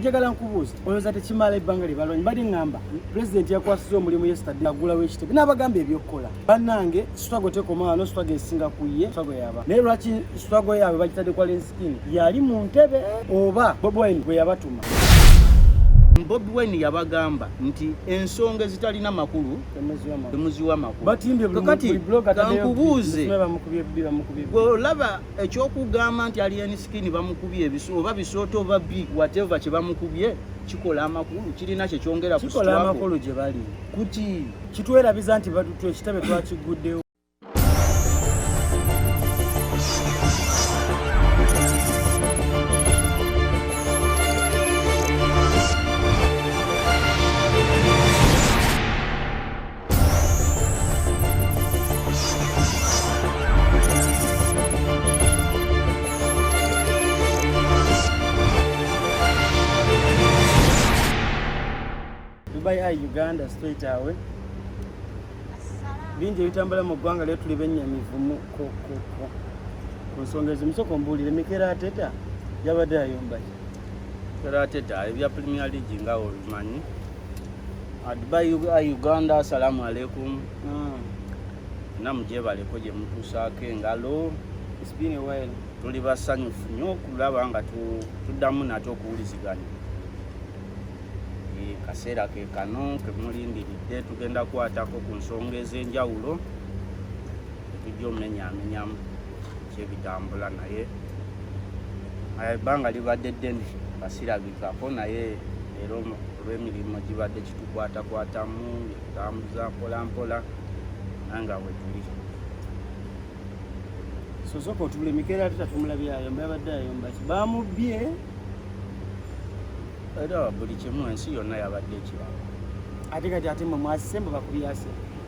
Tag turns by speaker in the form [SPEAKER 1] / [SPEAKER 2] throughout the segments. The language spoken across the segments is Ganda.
[SPEAKER 1] njagala nkubuuza olowooza tekimala ebbanga lye balwanyi bali ŋŋamba pulezidenti yakwasiza omulimu yesitadde agulawo ekitebe n'abagamba ebyokukola bannange sitwago tekoma wano sitwago esinga ku ye sitwago yaba naye lwaki sitwago yaabwe bagitadde kwa lensikini yali mu ntebe oba bobwine bwe yabatuma
[SPEAKER 2] bobi wine yabagamba nti ensonga ezitalina makulu temuziwa makulu kati kankubuuze olaba ekyokugamba nti alien skin bamukubye ebisu oba bisooto oba bi whatever kye bamukubye kikola amakulu kirina kye kyongera kikola amakulu gye bali
[SPEAKER 1] kuti
[SPEAKER 2] kitwerabiza nti
[SPEAKER 1] ekitabe twakiguddewo Dubai Eye Uganda straight away. Bingi ebitambula mu ggwanga lyo tuli bennyamivu ku nsonga ezimu. Sooka ombuulire Mikel Arteta yabadde ayomba ki? Mikel
[SPEAKER 2] Arteta ebya Premier League nga obimanyi Dubai Uganda, salamu alaikum. Mm. Namu gyebaleko gye mutuusaako engalo. It's been a
[SPEAKER 1] while. Tuli basanyufu
[SPEAKER 2] nnyo okulaba nga tuddamu nate okuwuliziganya. E, kaseera ke kano ke mulindiridde tugenda kwatako ku nsonga ez'enjawulo etujja omumenyaamenyamu. kyebitambula naye ebbanga libadde ddene basirabikako naye era olw'emirimu gibadde kitukwatakwatamu etambuza mpolampola nanga wetuli
[SPEAKER 1] sosoka otubula emikeera ate tatumulabye ayomba yabadde ayomba ki bamubbye
[SPEAKER 2] era buli kimu ensi yonna yabadde ekirala ate kati
[SPEAKER 1] ate mwe mwasise mbu bakubyase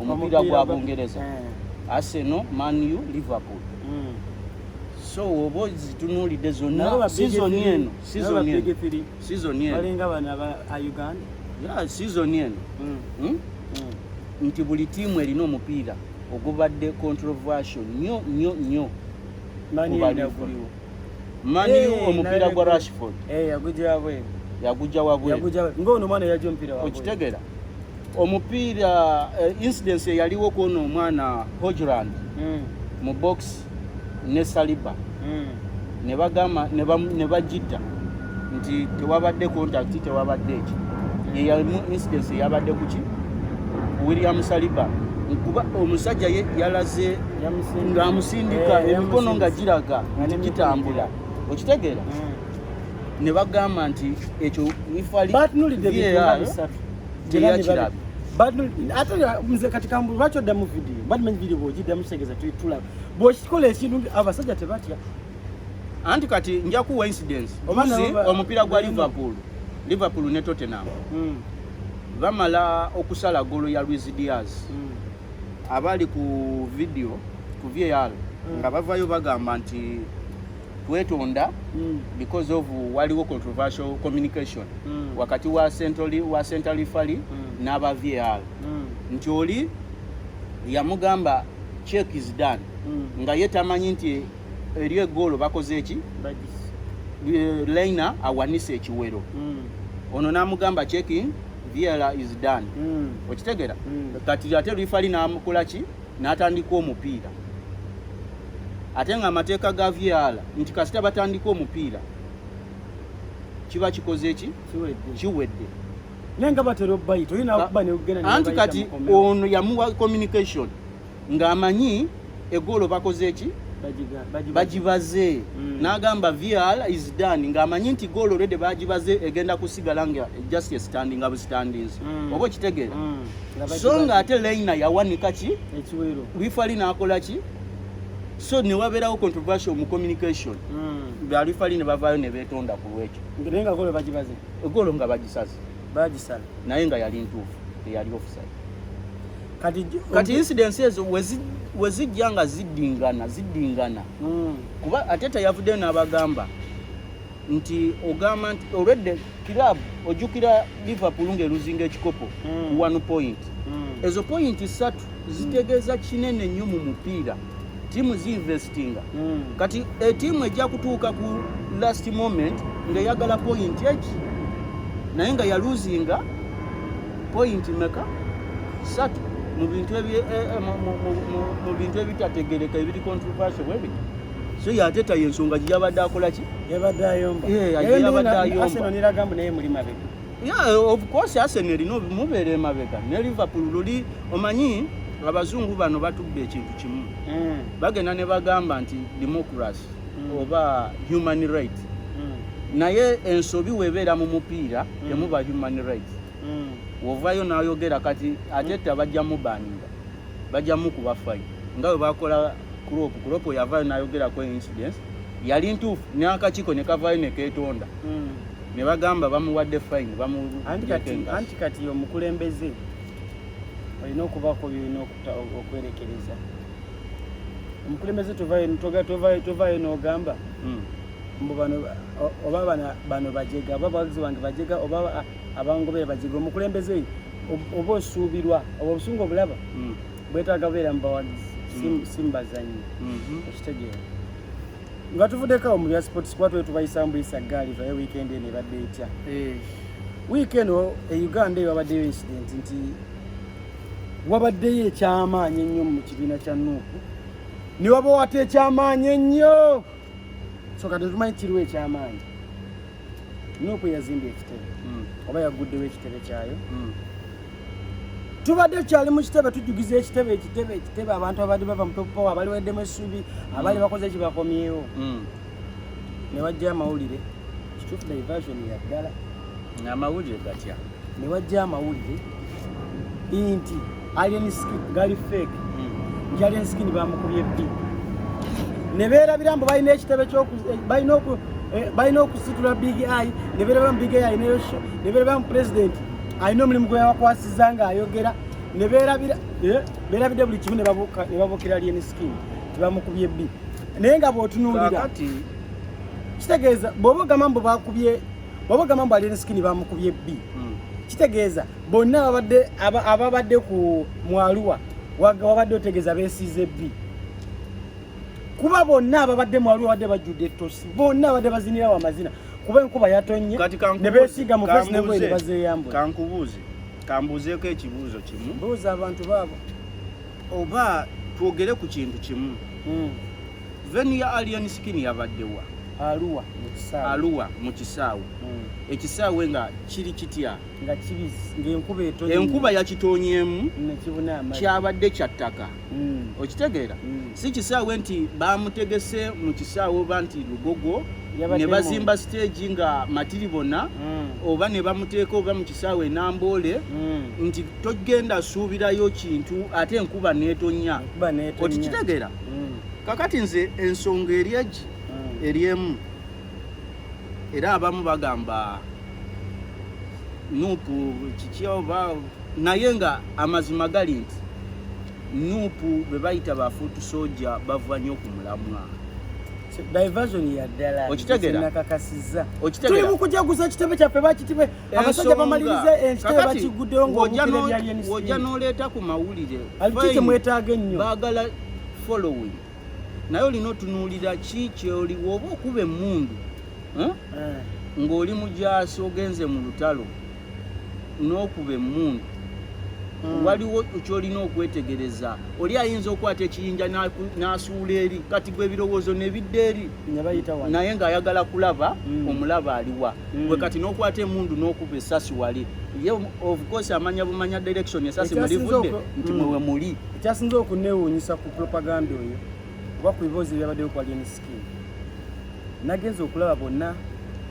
[SPEAKER 2] omupiira gwa bungereza eh. arsenal man u liverpool hmm. so oba zitunulidde zonna sizoni eno sizoni eno sizoni
[SPEAKER 1] eno sizoni
[SPEAKER 2] eno nti buli tiimu erina omupiira ogubadde controversial nyo nyo nyo kubaliwo mani eh, omupiira gwa rashford eh, yagujja wabweru yagujja wabweru ng'ono omwana yajja
[SPEAKER 1] omupiira wabweru okitegera
[SPEAKER 2] omupiira eh, incidence eyaliwo kwono omwana hojland mm. mu box ne saliba mm. ne bagamba ne bajidda nti tewabadde contact tewabadde eki mm. yeyamu incidence eyabadde kuki william saliba kuba omusajja ye yalaze ng'amusindika eh, emikono nga giraga nti gitambula okitegeera mm. ne bagamba nti ekyo ifali ate
[SPEAKER 1] nze kati kambu lwaki oddamu vidiyo badi manyi vidiyo bwogiddamu kitegeeza tulaba bwokikola ekintu abasajja tebatya anti
[SPEAKER 2] kati njakuwa incidence ozi omupiira gwa liverpool liverpool ne tottenham hmm. bamala okusala golo ya luis diaz hmm. abali ku vidiyo ku var hmm. nga bavayo bagamba nti twetonda mm. because of waliwo controversial communication mm. wakati wa centrali wa centrali fali mm. n'aba VAR mm. nti oli yamugamba check is done mm. nga ye tamanyi nti eriyo egoolo bakoze eki eh, lina awanise ekiwero mm. ono n'amugamba checking VAR is done mm. okitegera mm. kati ate rifali n'amukolaki n'atandika omupiira ate nga amateeka ga var nti kasita batandika omupiira kiba kikoze ki kiwedde naye nga
[SPEAKER 1] batera obayita olina okuba neugenda anti kati
[SPEAKER 2] ono yamuwa communication ng'amanyi egoolo bakoze ki bagibaze hmm. n'agamba var is done ng'amanyi nti goolo rede bagibaze egenda kusigala nga just standing abustandings hmm. oba okitegeera hmm. so nga ate Leina yawanika ki ekiwero bifali
[SPEAKER 1] nakola
[SPEAKER 2] ki so ne wabeerawo controversial mu communication hmm. balifali ne bavaayo
[SPEAKER 1] ne
[SPEAKER 2] beetonda ku lwekyo naye
[SPEAKER 1] nga
[SPEAKER 2] golo bagibaze golo nga bagisaze
[SPEAKER 1] bagisala naye nga yali
[SPEAKER 2] ntuufu eyali offside kati
[SPEAKER 1] kati incidents ezo
[SPEAKER 2] wezijja nga ziddingana ziddingana hmm. kuba ate teyavuddeyo n'abagamba nti ogamba nti olwedde club ojjukira liverpool ng'eruzinga ekikopo mm. one point mm. ezo pointi ssatu zitegeeza kinene nnyo mu mupiira tiimu ziinvestinga mm. kati etiimu eh, ejja kutuuka ku last moment ng'eyagala pointi eki naye nga yaluzinga pointi meka satu mu bintu eh, eh, mu bintu ebitategereka ebiri controversial bwebiti so yate tayo ensonga gye yabadde akola ki yabadde ayomba
[SPEAKER 1] yabadde ayomba neragambu naye muli mabega ya of
[SPEAKER 2] course arsenal erina mubeera emabega ne liverpool luli omanyi abazungu bano batubba ekintu kimu mm. bagenda ne bagamba nti democracy mm. oba human right mm. naye ensobi webeera mu mupiira temuba human right wovayo nayogera kati ate tabajja mubaninga bajja mukuba fine nga bwe bakola crop crop yavayo nayogerako incidence yali ntuufu n'akakiiko ne kavayo ne keetonda hmm. ne bagamba bamuwadde fine anti
[SPEAKER 1] kati omukulembeze olina okubako byolina okwerekereza omukulembeze tovayo n'ogamba hmm. mbu bano oba bano bajega oba abawagizi bange bajega oba abangobere bajega omukulembeze oba osuubirwa oba obusungu obulaba mm. bwetaaga beera mu bawagizi mm. si mu bazannyi mm-hmm. okitegeera nga tuvuddekawo mu bya sports kuba twali tubayisa mbuyisa gaali vaye wiikendi eno ebadde etya eh. wiiki eno e uganda eyo wabaddeyo incident nti wabaddeyo ekyamaanyi ennyo mu kibiina kya nuupu ne wabawata ekyamaanyi ennyo soka tetumanyi kiriwo ekyamaanyi nuupu yazimbye ekitebe hmm. oba yagguddewo ekitebe kyayo hmm. tubadde tukyali mu kitebe tujjugiza ekitebe ekitebe ekitebe abantu abadde bava mu topowa abaliweddemu essubi abali hmm. bakoze ekibakomyewo ne wajja amawulire kituufu diversion yaddala amawulire
[SPEAKER 2] gatya ne wajja
[SPEAKER 1] amawulire nti alien skin gali fake nti hmm. alien skin bamukubye bbi ne beerabira mbu balina ekitebe balina eh, okusitula big i ne beerabira mu big i ne beerabira mu pulezidenti alina omulimu gwe yabakwasiza ng'ayogera ne beerabira eh, beerabidde buli kimu ne babukira alien skin tibamukubye bbi naye nga bwotunuulira kitegeeza bwoba ogamba mbu bakubye waba gamba mbu alien skin bamukubye bbi hmm. kitegeeza bonna ababadde ababadde ku mwaluwa wabadde otegeeza besiize bbi kuba bonna ababadde mwaluwa badde bajjudde ettosi bonna abadde bazinira wa mazina kuba enkuba yatonnye ne beesiiga mu fesi nengoye ne bazeeyambula kankubuuze
[SPEAKER 2] kambuuzeeko ekibuuzo kimu buuza abantu baabo
[SPEAKER 1] oba
[SPEAKER 2] twogere ku kintu kimu hmm. Veni ya Alien Skin yabadde wa? Aluwa mu kisaawe. Aluwa mu kisaawe. Mm. Ekisaawe nga kiri kitya? Nga kibizi
[SPEAKER 1] ng'enkuba etonye. Enkuba yakitoonyeemu
[SPEAKER 2] nekibuna amazzi.
[SPEAKER 1] Kyabadde kya ttaka.
[SPEAKER 2] Mm. Okitegeera? Mm. Si kisaawe nti baamutegese mu kisaawe oba nti lugogo ne bazimba siteegi nga matiri bona mm. oba ne bamuteeka oba mu kisaawe enamboole mm. nti togenda suubirayo kintu ate enkuba neetonnya. Okitegeera? mm. kakati nze ensonga eri egi mm. eri emu era abamu bagamba nupu kiki oba naye nga amazima gali nti nupu bebayita bafuutu soja bava nnyo ku mulamwa
[SPEAKER 1] diversion ya ddala okitegera nakakasiza okitegera tuli mukujaguza kitebe kyaffe bakitibe abasajja bamaliriza enkite bakiguddewo ng'omukirebyalyeniswojja
[SPEAKER 2] n'oleeta ku mawulire aliki kyemwetaaga
[SPEAKER 1] ennyo baagala
[SPEAKER 2] following naye olina otunuulira ki kyoliwo oba okuba emmundu eh? eh. ng'oli mujaasi ogenze mu lutalo n'okuba emmundu hmm. waliwo kyolina okwetegereza oli ayinza okwata ekiyinja n'asuula eri kati gwe ebirowoozo nebidda eri naye ng'ayagala kulaba hmm. omulaba aliwa mm. gwe kati nokwata emundu nokuba esasi wali ye of course amanya bumanya direction esasi mulivudde nti mm. mwewe muli ekyasinza okunewunyisa
[SPEAKER 1] ku propaganda oyo oba ku biboozi byabaddeyo ku alien skin nagenza okulaba bonna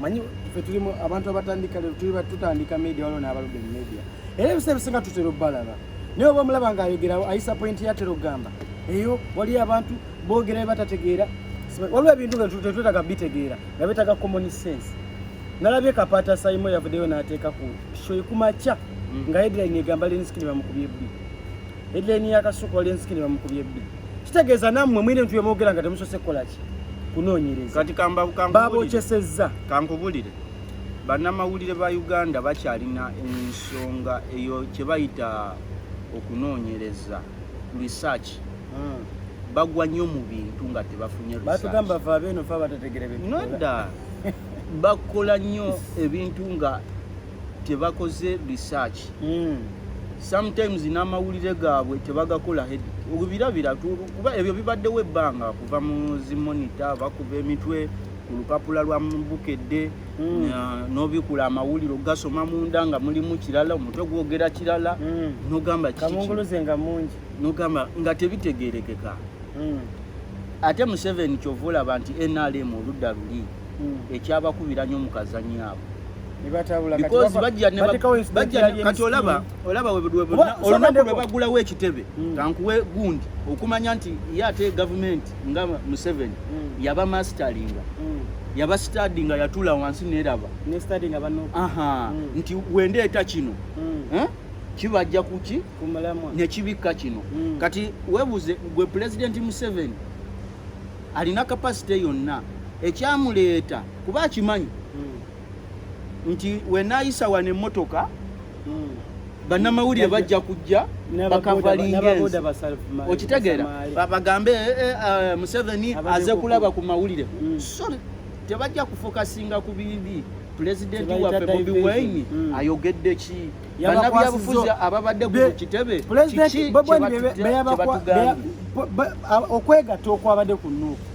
[SPEAKER 1] manyi fe tulimu abantu abatandika lero tuli tutandika media waliwo n'abaludde mu media era ebisa ebisinga tutera obalaba naye oba omulaba ng'ayogera ayisa pointi yatera okugamba eyo waliyo abantu boogera bye batategeera waliwo ebintu nga tetwetaga bitegeera nga betaga common sense nalabye kapata sayimo yavudeyo nateeka ku shoyi kumakya mm. nga headline egamba lenskini bamukubye bbi headline yakasuka lenskini bamukubye bbi kitegeeza nammwe mwine ntu yemwogera nga temusose kukolaki kunoonyereza
[SPEAKER 2] babokyesezza
[SPEAKER 1] kankubulire
[SPEAKER 2] bannamawulire ba uganda bakyalina ensonga eyo kyebayita okunoonyereza research hmm. bagwa nnyo mu bintu nga tebafunye batugamba fa beeno fa
[SPEAKER 1] batategere bintu nodda
[SPEAKER 2] bakola nnyo ebintu nga tebakoze research hmm. sometimes n'amawulire gaabwe tebagakola head obirabira kuba ebyo bibaddewo ebbanga kuva mu zimonita bakuba emitwe ku lupapula lwa bukedde Mm. nobikula amawulire ogasoma munda nga mulimu kirala omutwe gwogera kirala mm. nogamba
[SPEAKER 1] nogamba nga
[SPEAKER 2] tebitegerekeka mm. ate museveni kyova olaba nti nrm oludda luli ekyabakubira nyo mukazanyo abo olunabagulawo ekitebe kankuwe gundi okumanya nti ye ate gavumenti nga museven mm. yaba mastalinga mm. yaba stadi nga yatula wansi neraba mm. nti wendeeta kino eh? kibajja kuki nekibikka kino kati webuze gwe pulezidenti museven alina kapasite yonna ekyamuleeta kuba akimanyi nti wenayisa wano emotoka bannamawulire bajja kujja bakavalingenzi okitegeera bagambe eh, eh, eh, museveni aze kulaba ku mawulire mm. sorry tebajja kufokasinga ku bibi pulezidenti waffe bobi wine mm. ayogedde ki banabyabufuzi ababadde ku kitebe
[SPEAKER 1] okwegatta okwabadde ku nuuku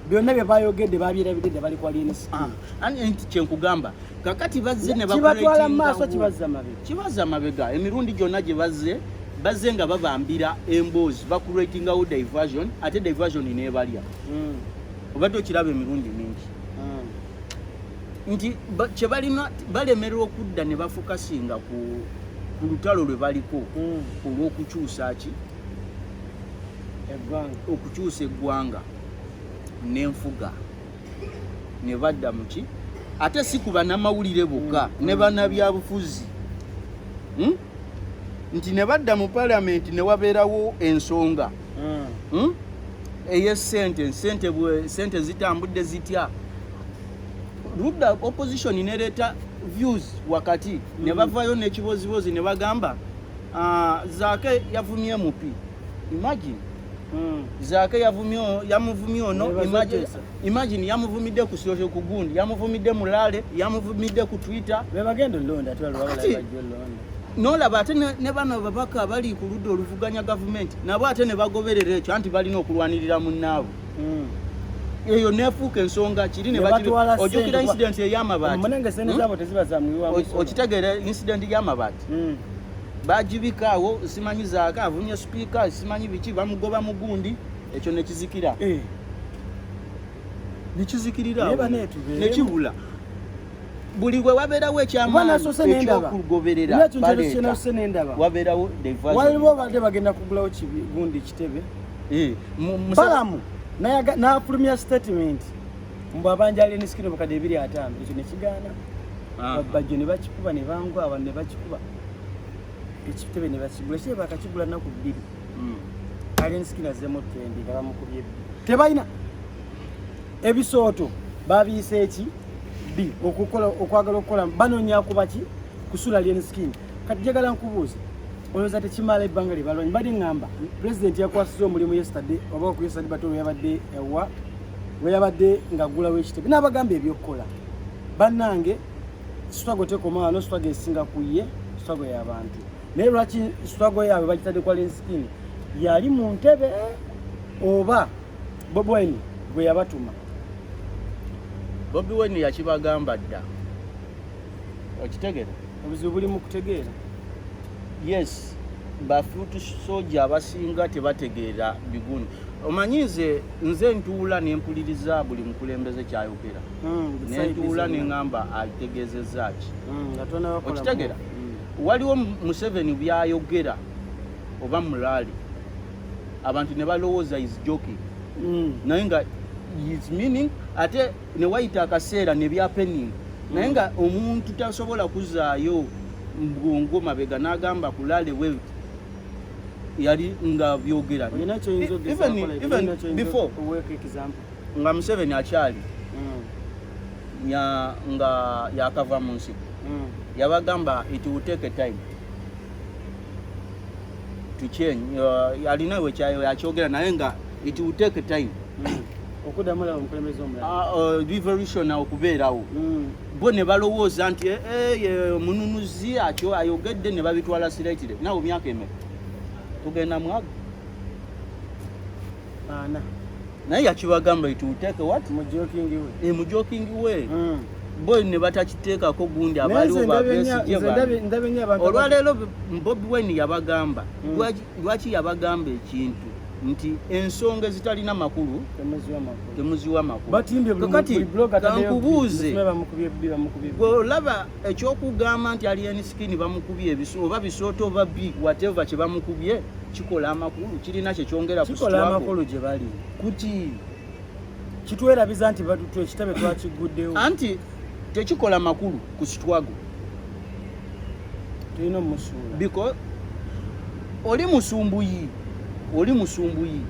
[SPEAKER 1] byonna bye bayogedde babyerabidde dde bali kwa lnc ah, nti kyenkugamba
[SPEAKER 2] kakati bazze ne kibatwala mu maaso kibazza
[SPEAKER 1] mabega kibazza
[SPEAKER 2] mabega emirundi gyonna gye bazze bazze nga babambira emboozi bakuratingawo diversion ate diversion nebalya hmm. obadde okiraba emirundi mingi hmm. nti kyebalina balemerera okudda ne bafokasinga ku lutalo lwe baliko hmm. olw'okukyusa ki okukyusa eggwanga n'enfuga ne badda muki ate si ku banamawulire bokka mm. ne banabyabufuzi hmm? nti ne badda mu palamenti ne wabeerawo ensonga mm. hmm? eyesente sente zitambudde zitya ludda opposition nereeta views wakati mm. ne bavayo nekibozibozi ne bagamba ah, zaake yavumye mupi imagine Hmm. Zaake yavumye yamuvumye ono emergency. Imagine yamuvumidde ku social ku gundi, yamuvumidde mu lale, yamuvumidde ku Twitter. Be bagenda londa twala
[SPEAKER 1] wabala bajjo londa. Nolaba
[SPEAKER 2] ate ne bano babaka bali ku ludda oluvuganya gavumenti nabo ate ne bagoberera ekyo anti balina okulwanirira munnaabwe. Hmm. eyo nefuuka ensonga kiri nebaojukira incident eyamabaati
[SPEAKER 1] hmm? okitegeera incident
[SPEAKER 2] yamabaati mm. bajibika awo simanyi zaaka avumye sipiika simanyi biki bamugoba mugundi ekyo nekizikira eh. nekizikirira nekibula buli we wabeerawo ekyamaaniekyokugoberera wabeerawo waliwo obadde bagenda
[SPEAKER 1] kugulawo kigundi kitebe eh, balamu nafulumya statement mbu abanja alien skin obukadde ebiri ataano ekyo ne kigaana bajjo ne bakikuba ne bangwa abantu ne bakikuba ekitebe ne bakigula ekitebe bakakigula nnaku bbiri hmm. alien skin azzemu tendi nga bamukubye bbi tebalina ebisooto babiyisa eki bbi okukola okwagala okukola banonya kuba ki kusula alien skin kati jagala nkubuuza olowooza tekimala ebbanga lye balwanyi bade ŋŋamba pulezidenti yakwasiza omulimu yesterday oba okuyesadi batolo yabadde ewa lwe yabadde ng'aggulawo ekitebe n'abagamba eby'okukola bannange sitwago tekoma wano sitwago esinga ku ye sitwago y'abantu naye lwaki sitwago yaabwe bagitadde kwa lensikini yali mu ntebe oba bobi wine gwe yabatuma
[SPEAKER 2] bobi wine yakibagamba dda okitegere obuzibu buli mu kutegeera
[SPEAKER 1] yes
[SPEAKER 2] bafutu soja abasinga tebategeera biguni omanyi nze nze ntuula nempuliriza buli mukulembeze kyayogera hmm, nentuula neŋamba ategezeza ki hmm, okitegera hmm. waliwo museveni byayogera oba mulaali abantu ne balowooza is joking naye nga is meaning ate ne wayita akaseera ne bya pening naye nga omuntu tasobola kuzaayo mbwongo mabega n'agamba kulale we yali nga byogera nga museveni akyali mm. nga yakava mu nsi mm. yabagamba it will take a time to change uh, alina wekyayogera naye nga it will take time okuddamu
[SPEAKER 1] laba omukulembeze omulala ah, oh, devolution
[SPEAKER 2] okubeerawo mm. bo ne balowooza nti eh, eh, eh, omununuzi akyo ayogedde ne babitwala siretire nawe myaka emeka tugenda mwago ana
[SPEAKER 1] naye
[SPEAKER 2] yakibagamba ituuteeke wat mujokingi we mm. bo ne batakiteekako gundi abaaliwo babesigye olwaleero bobi wine yabagamba mm. Lwaki yabagamba ekintu nti ensonga ezitalina makulu temuziwa makulukati kankubuuze olaba ekyokugamba nti alien skin bamukubye ebiso oba bisooto oba bi wateva kyebamukubye kikola amakulu kirina kyekyongera
[SPEAKER 1] kuki kitwerabiza nti batutu ekitabe twakiguddewo anti
[SPEAKER 2] tekikola makulu ku sitwago
[SPEAKER 1] tulina omusuula because
[SPEAKER 2] oli musumbuyi oli musumbuyi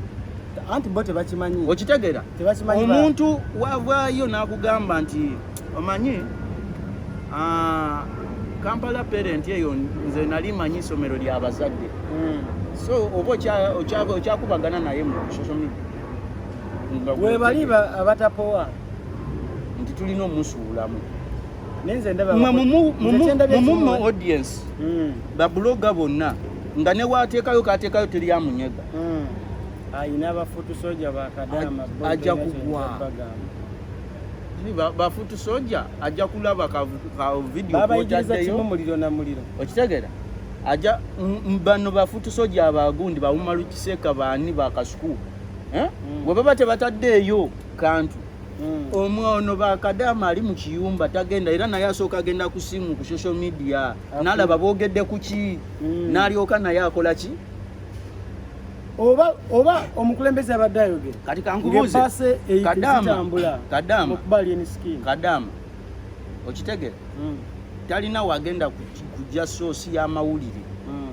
[SPEAKER 2] anti bo
[SPEAKER 1] tebakimanyi okitegera
[SPEAKER 2] omuntu wavaayo n'akugamba nti omanyi ah, kampala parent eyo nze nali manyi isomero ly'abazadde hmm. so oba okyakubagana naye mu social media webali
[SPEAKER 1] abatapowa
[SPEAKER 2] nti tulina omusuulamu
[SPEAKER 1] mumuma
[SPEAKER 2] audience hmm. babuloga bonna nga newateekayo kateekayo teri amunyega hmm.
[SPEAKER 1] ayina abafutu soja bakadama ajja
[SPEAKER 2] kugwa bafutu soja ajja kulaba ka video babaigiriza kimu muliro
[SPEAKER 1] na muliro okitegera
[SPEAKER 2] aja bano bafutu soja abagundi bawumalu kiseka baani bakasuku eh? mm. we baba tebataddeeyo kantu mm. omwe ono bakadaama ali mu kiyumba tagenda era naye asooka agenda ku simu ku social media nalaba boogedde ku ki mm. nalyoka naye akola ki oba
[SPEAKER 1] oba omukulembeze abadde ayogera kati kankubuuze
[SPEAKER 2] kadaama kadaama kadaama okitegere mm. talina wagenda kujja soosi y'amawulire mm.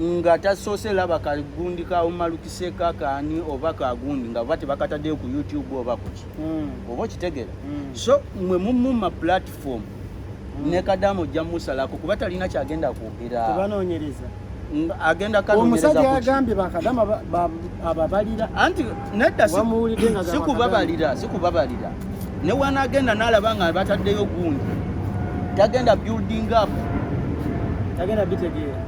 [SPEAKER 2] nga tasoose laba kagundi ka umalukise kakani oba kagundi nga oba tebakataddeyo ku youtube oba kuki mm. oba okitegere mm. so mwe mumuma platform mm. ne kadamu ojja musalako kuba talina kyagenda kwogera
[SPEAKER 1] agenda
[SPEAKER 2] omusajja yagambye bakadama
[SPEAKER 1] ababalira anti
[SPEAKER 2] nedda sikubabalira sikubabalira ne wanagenda nalaba nga bataddeyo gundi tagenda building up
[SPEAKER 1] tagenda bitegeera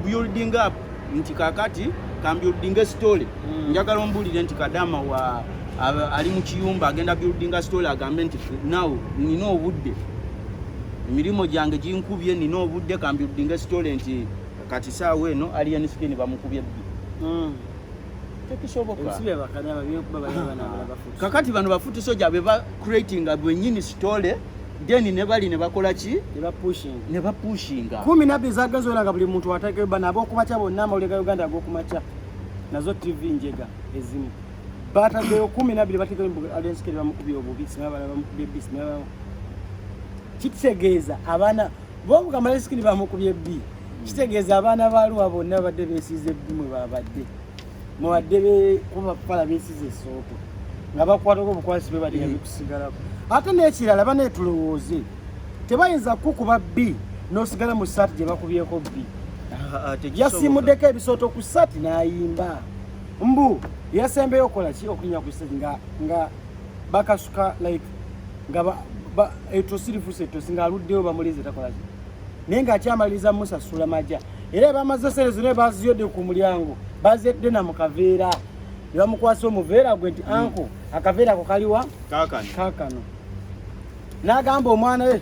[SPEAKER 1] building
[SPEAKER 2] up nti kakati kambuilding story hmm. njagala ombulire nti kadama wa ali mu kiyumba agenda building story agambe nti now nina obudde emirimu gyange ginkubye nina obudde kambiudinga esitole nti kati saawa eno alien skin bamukubye bbi hmm. kakati bano bafuti soja beba creatinga bwenyini sitole then ne bali ne bakola ki ne ba pushing ne ba pushing kumi na biza gazo
[SPEAKER 1] langa buli muntu atake bana abo kumacha bonna amawulire ga Uganda ago kumacha nazo TV njega ezimu bata gyo kumi na bili batike alien skin bamukubye obubi sinaba bamukubye bisina kitegeeza abaana bobuka malesikini bamukubye bbi kitegeeza abaana baluwa bonna babadde besiiza ebbi mwe babadde mwebadde kubapala besiiza esooto nga bakwatako obukwasi bebadiga mm. bikusigalako ate n'ekirala banetulowooze tebayinza kukuba bbi nosigala mu saati gye bakubyeko bbi ah, ah, yasimuddeko ebisooto ku saati n'ayimba mbu yasembeyo okola ki okunya ku nga bakasuka like nga ba, ba etosi lifusa etosi nga aluddeyo bamulize takolaki naye nga akyamaliriza musasula maja era bamaze sente zona baziyodde ku mulyango bazedde na mukaveera ne bamukwasa omuveera gwe nti hmm. anko akaveera ako kaliwa kakano n'agamba omwana we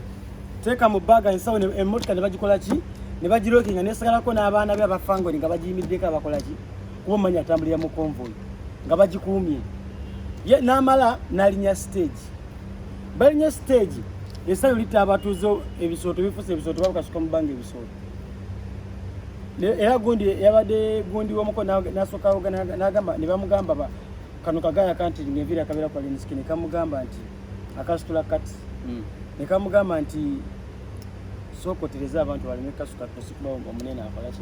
[SPEAKER 1] teeka mu bbaga ensawo emmotoka ne bagikola ki ne bagirokinga nesagalako n'abaana be abafango nga bagiyimiddeko abakola ki kuba omanyi atambulira mu konvoyi nga bagikuumye n'amala n'alinya siteegi balinya siteegi esayo litta abatuuze ebisooto bifusa ebisooto babukasuka mu bbanga ebisooto era gundi yabadde gundi womuko nasooka nagamba ne bamugamba kano kagaya kanti ngenvira akabeera kwa linsiki ne kamugamba nti akasitula kati hmm. ne kamugamba nti sookotereza abantu baleme kasuka tosikuba omunene akolaki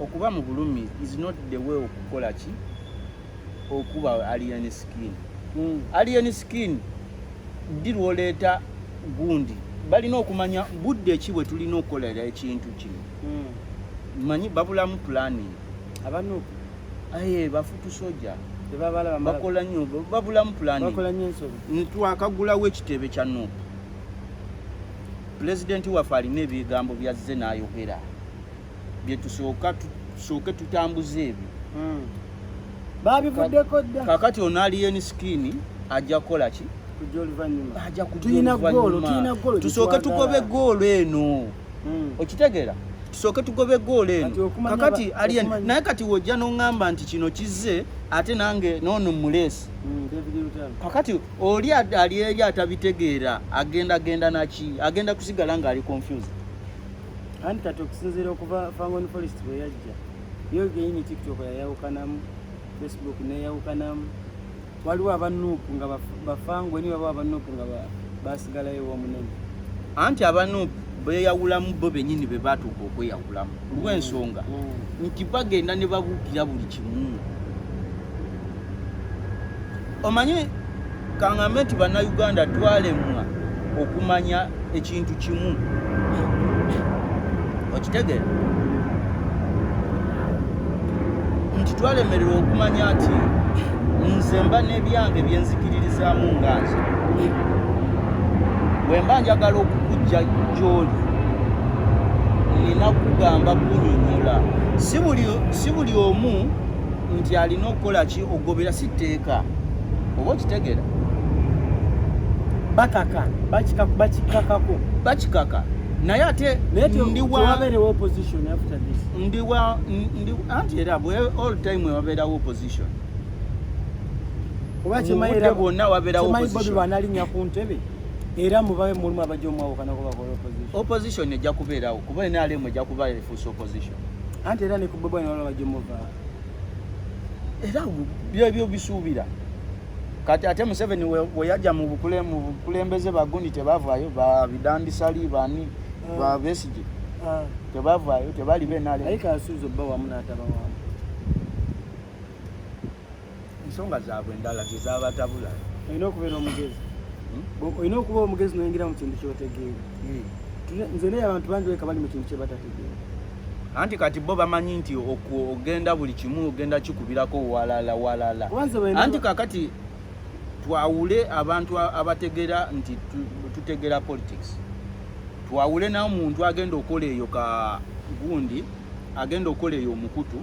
[SPEAKER 1] okuba
[SPEAKER 2] mu bulumi is not the way okukola ki okuba alien skin mm. alien skin ddi lwoleeta gundi balina okumanya budde ki bwe tulina okukolera ekintu kino mm. manyi babulamu pulani abanu
[SPEAKER 1] aye
[SPEAKER 2] bafutu soja bakola
[SPEAKER 1] nyo
[SPEAKER 2] babulamu pulani
[SPEAKER 1] twakagulawo
[SPEAKER 2] ekitebe kya nup pulezidenti waffe alina ebigambo byazze n'ayogera byetusooka tusooke tutambuze ebyo hmm. babivuddeko
[SPEAKER 1] dda kakati ono aliyeni
[SPEAKER 2] sikini ajja kukola ki
[SPEAKER 1] tusooke tugobe
[SPEAKER 2] goolo eno hmm. okitegeera tusooke tugobe goolo eno kakati aliyeni naye kati wojja noŋŋamba nti kino kizze ate nange noono muleesi hmm, kakati oli ali eri atabitegeera agenda genda naki agenda kusigala ng'ali confused
[SPEAKER 1] anti kati okusinziira okuva fangon forest bwe yajja yo genyini tiktok yayawukanamu facebook neyawukanamu waliwo abanuupu nga bafango ni waliwo abanuupu nga basigalayo womunene anti
[SPEAKER 2] abanuupu beyawulamu bo benyini be batuuka okweyawulamu olwensonga mm. nti bagenda ne babuukira buli kimu omanyi kangambe nti bannayuganda twalemwa okumanya ekintu kimu okitegere nti twalemererwa okumanya nti nze mba n'ebyange byenzikiririzaamu nga nze bwe mba njagala okukujja gyoli nina kugamba kunyonyola si buli omu nti alina okukola ki okugobera si tteeka oba okitegera bakaka bakikakako bakikaka naye ate anti era all time ewabeerawo opposition obakyemayira bwonna wabeerawoanalinya ku
[SPEAKER 1] ntebe era mubabe mulimu abajja omwawukana ku bakola opposition opposition ejja
[SPEAKER 2] kubeerawo kuba nrm ejja kuba efuusa opposition anti era ne ku
[SPEAKER 1] bwebwanalabajja omuvaa
[SPEAKER 2] era byebyo bisuubira kati ate museveni weyajja mu bukulembeze bagundi tebavaayo babidandisali bani ah. babesigi ah. tebavaayo tebali benale ensonga zaabwe endala zezabatabula olina okubeera
[SPEAKER 1] omugezi hmm? olina okuba omugezi noyingira mu kintu kyotegeera hmm. nze naye abantu bangi weka bali mu kintu kyebatategeera anti kati
[SPEAKER 2] bo bamanyi nti ogenda buli kimu ogenda kikubirako walala walala anti kakati twawule abantu abategera nti tutegera politics twawule nawo muntu agenda okola eyo ka gundi agenda okukola eyo omukutu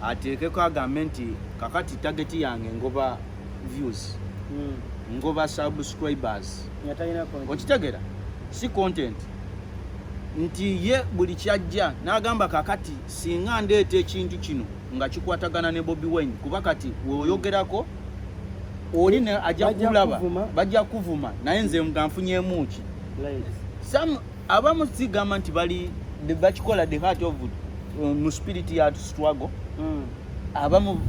[SPEAKER 2] ateekeko agambe nti kakati tageti yange ngoba views hmm. ngoba subscribers okitegera si content nti ye buli kyajja n'agamba kakati singa ndeeta ekintu kino nga kikwatagana ne bobi wine kuba kati weoyogerako oli ne ajja kulaba bajja kuvuma naye nze nga nfunyemuki abamu sigamba nti bali bakikola the heart of uh, mu spirit ya struggle mm. abamu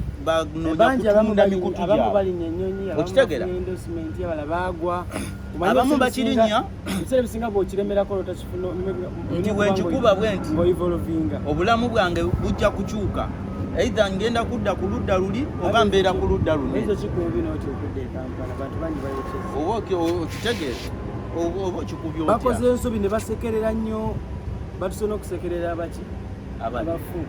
[SPEAKER 2] okitegera abamu bakirinya
[SPEAKER 1] nti
[SPEAKER 2] wenkikuba bwe nti obulamu bwange bujja kukyuka eitha ngenda kudda ku ludda luli oba mbeera ku ludda luno oba okitegeera bakoze ensobi ne basekerera
[SPEAKER 1] nnyo batusona okusekerera abaki abafu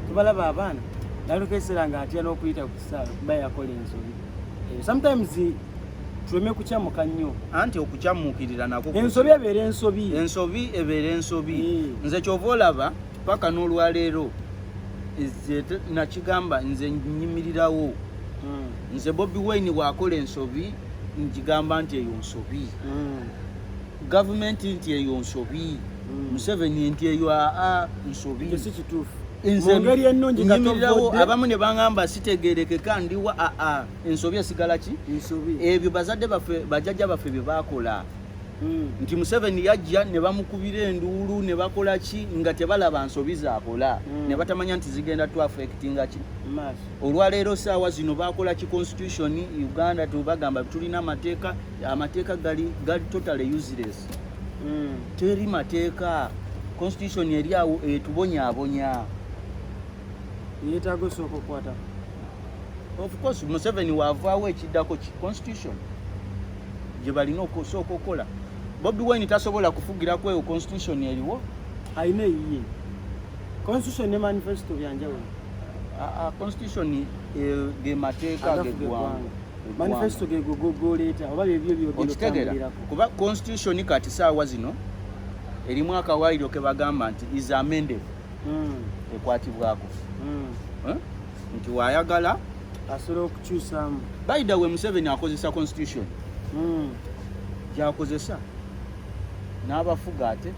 [SPEAKER 1] tubalaba abaana nalukesera nga atya n'okuyita ku kisaala kuba yakola ensobi eh, sometimes tuleme kukyamuka nnyo anti okukyamuukirira
[SPEAKER 2] nako ensobi ebeera ensobi
[SPEAKER 1] ensobi ebeera ensobi
[SPEAKER 2] eh. nze kyova olaba paka n'olwaleero nakigamba nze nyimirirawo hmm. nze bobi wine wakola ensobi njigamba nti eyo nsobi mm. gavumenti nti eyo nsobi mm. museveni nti eyo aa nsobi nzemirilawo
[SPEAKER 1] abamu ne
[SPEAKER 2] bangamba sitegerekeka ndiwa aa ensobi esigala ki ebyo bazadde baffe bajajja baffe bye bakola mm. nti museveni yajja ne bamukubira enduulu ne bakola ki nga tebalaba nsobi zakola ne batamanya nti zigenda twafekitinga ki maaso olwaleero saawa zino bakola ki constitution uganda tubagamba tulina amateeka amateeka gali gali totally useless mm. teri mateeka constitution eri awo etubonyabonya
[SPEAKER 1] yetaga osooka okukwata
[SPEAKER 2] of course museveni wavaawo ekiddako ki constitution gye balina okusooka okukola bobi wine tasobola kufugira kweyo constitution eriwo alina eyiye
[SPEAKER 1] Constitution ne manifesto bya njawulo. Ah, ah,
[SPEAKER 2] constitution eh, ge mateeka ge ggwanga. Manifesto ge
[SPEAKER 1] go go leta oba bye byo byo byo. Kuba
[SPEAKER 2] constitution kati saawa zino erimu akawaayiro ke bagamba nti is amended hmm. ekwatibwako hmm. eh? nti wayagala asobola
[SPEAKER 1] okukyusamu baida we museveni
[SPEAKER 2] akozesa constitution hmm. gyakozesa n'abafuga ate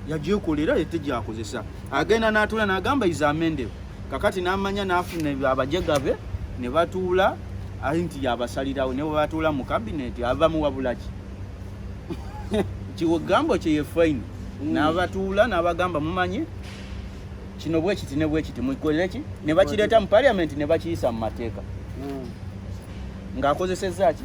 [SPEAKER 2] yagyekolera ete gyakozesa agenda n'atuula n'agamba iza amendero kakati n'amanya n'afuna abajega be ne batuula ali nti yabasalirawo ne bwebatuula mu kabineeti avamu wabulaki kigambo kye yefaini mm. n'abatuula n'abagamba mumanyi kino bwekiti ne bwekiti mukoleki ne bakireeta mu paliamenti ne bakiyisa mu mateeka mm. ng'akozesezza ki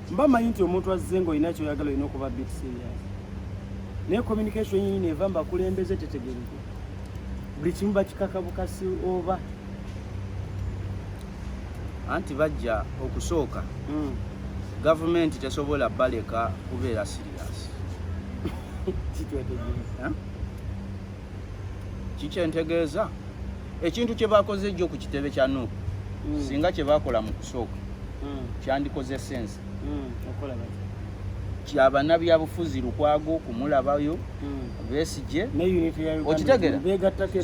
[SPEAKER 1] mba manyi nti omuntu azze ng'olina kyoyagala olina okuba bit serious naye communication yini neva mbakulembeze tetegereke buli kimu bakikaka bukasi oba
[SPEAKER 2] anti bajja okusooka hmm. gavumenti tesobola baleka kubeera serious kikyentegeeza ekintu kye bakoze ejjo ku kitebe kya nup mm. singa kye bakola mu kusooka mm. kyandikoze sense mm. kyabana byabufuzi lukwago kumulabayo besije okitegera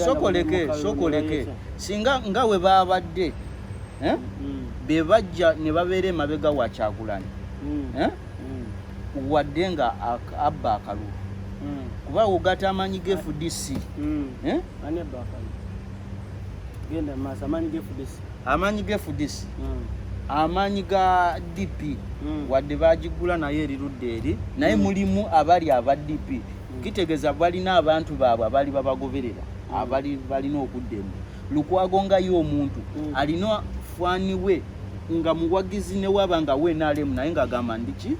[SPEAKER 2] sokoleke sokoleke singa nga we babadde eh? bebajja ne babeera emabega wa kyagulanyi eh? mm. wadde nga abba akalulu mm. kuba wogata amanyi ge fdc mm. eh? amanyi ge fdc amanyi ga dp wadde bagigula naye erirudde eri naye mulimu abali aba dp kitegeeza balina abantu baabwe abali babagoberera abali balina okudda emu Lukwago nga ye omuntu mm. alina fwani we nga muwagizi newaba nga we nalemu naye nga agamba ndiki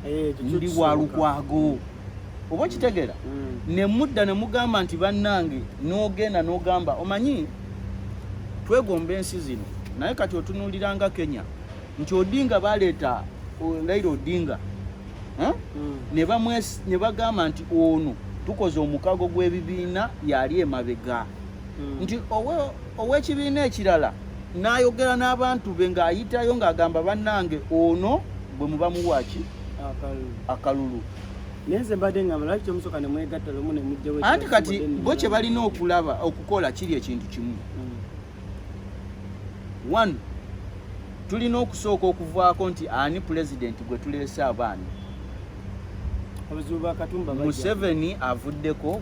[SPEAKER 2] eh, ndi wa Lukwago oba okitegera mm. ne mudda ne mugamba nti bannange n'ogenda n'ogamba omanyi twegomba ensi zino naye kati otunuuliranga kenya nti odinga baleeta laira odinga eh? mm. ne bagamba nti ono tukoze omukago gw'ebibiina yali emabega mm. nti ow'ekibiina ekirala n'ayogera n'abantu be ng'ayitayo ng'agamba bannange ono bwe muba muwaaki akalulu nenze
[SPEAKER 1] mbadde nga balaki kyomusoka ne mwegatta lumu ne mujjawo anti kati bo
[SPEAKER 2] kye balina okulaba okukola kiri ekintu kimu mm. one tulina okusooka okuvaako nti ani pulezidenti gwe tuleese abaana museveni avuddeko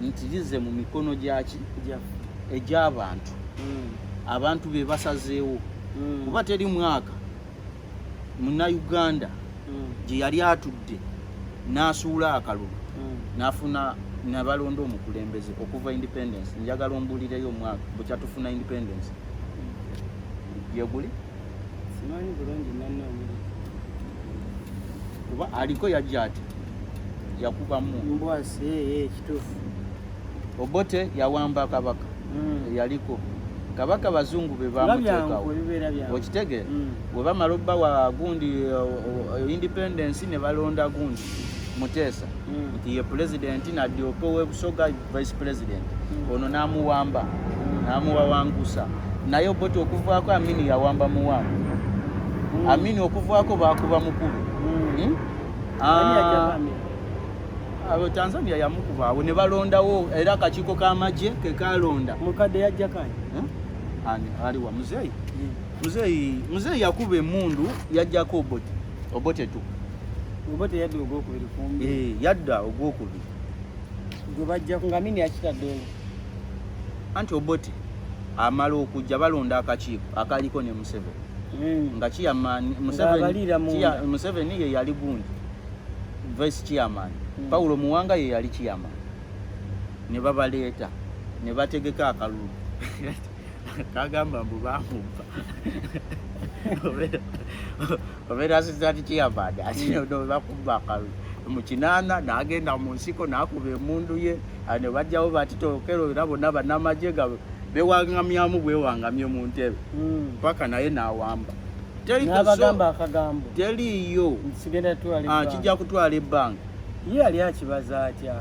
[SPEAKER 2] nti lize mu mikono gyaki egy'abantu hmm. abantu be basazeewo hmm. kuba teri mwaka munauganda hmm. gye yali atudde n'asuula akalulu n'afuna nabalonda omukulembeze okuva independence njagala ombuulireyo omwaka bwekyatufuna independence yeguli kuba aliko yajja ati yakubamu mbwasi eh,
[SPEAKER 1] eh, kitufu obote
[SPEAKER 2] yawamba kabaka mm. yaliko kabaka bazungu be bamuteekawo okitegere mm. bwe bamala obba wa gundi eh, independence ne balonda gundi muteesa mm. nti ye pulezidenti nadyoka owebusoga vice president mm. ono namuwamba mm. namuwawangusa naye oboti okuvaako amini yawamba muwamba mm. amini okuvaako bakuba mukulu mm. hmm? Ah, abo Tanzania yamukuba awo ne balondawo era akakiiko k'amagye ke kalonda mukadde yajja kani
[SPEAKER 1] eh? ani
[SPEAKER 2] ali wa muzeeyi hmm. muzeeyi muzeeyi yakuba emundu yajjako obote obote tu obote yadda
[SPEAKER 1] ogwokubiri kumbi eh, yadda
[SPEAKER 2] ogwokubiri gwe
[SPEAKER 1] bajja nga mini yakitaddeyo
[SPEAKER 2] anti obote amala okujja balonda akakiiko akaliko ne museveni mm. nga chairman Museveni ye yali gundi vice chairman mm. Paulo Muwanga ye yali chairman ne babaleeta ne bategeka akalulu kagamba mbu bamubba obeera sizati chairman ati mm. bakubba akalulu mukinana nagenda munsiko nakuba emundu ye ne bajjawo batitokero era bonna banamagye bewangamyamu bwewangamye mu ntebe hmm. mpaka naye nawamba nabagamba
[SPEAKER 1] akagambo teliyo
[SPEAKER 2] ah, kijja kutwala ebbanga ye yali
[SPEAKER 1] akibaza atya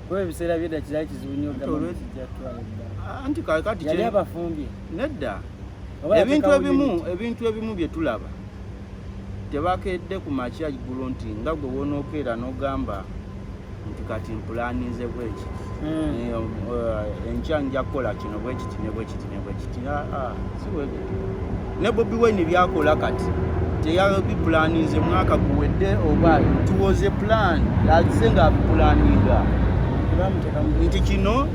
[SPEAKER 1] kuba ebiseera byedda kirali kizibu nyo anti kakati yali
[SPEAKER 2] abafumbye
[SPEAKER 1] nedda
[SPEAKER 2] ebintu ebimu ebintu ebimu byetulaba tebakedde ku makya ggulu nti nga gwe wonookeera n'ogamba nti kati mpulaninze bweki hmm. eh, eh, enkya nja kukola kino bwekiti ne bwekiti ne bwekiti ah, ah, ne bobi wine byakola kati teyabipulaninze mwaka guwedde oba tuwoze plan aze nga abipulaninga nti kino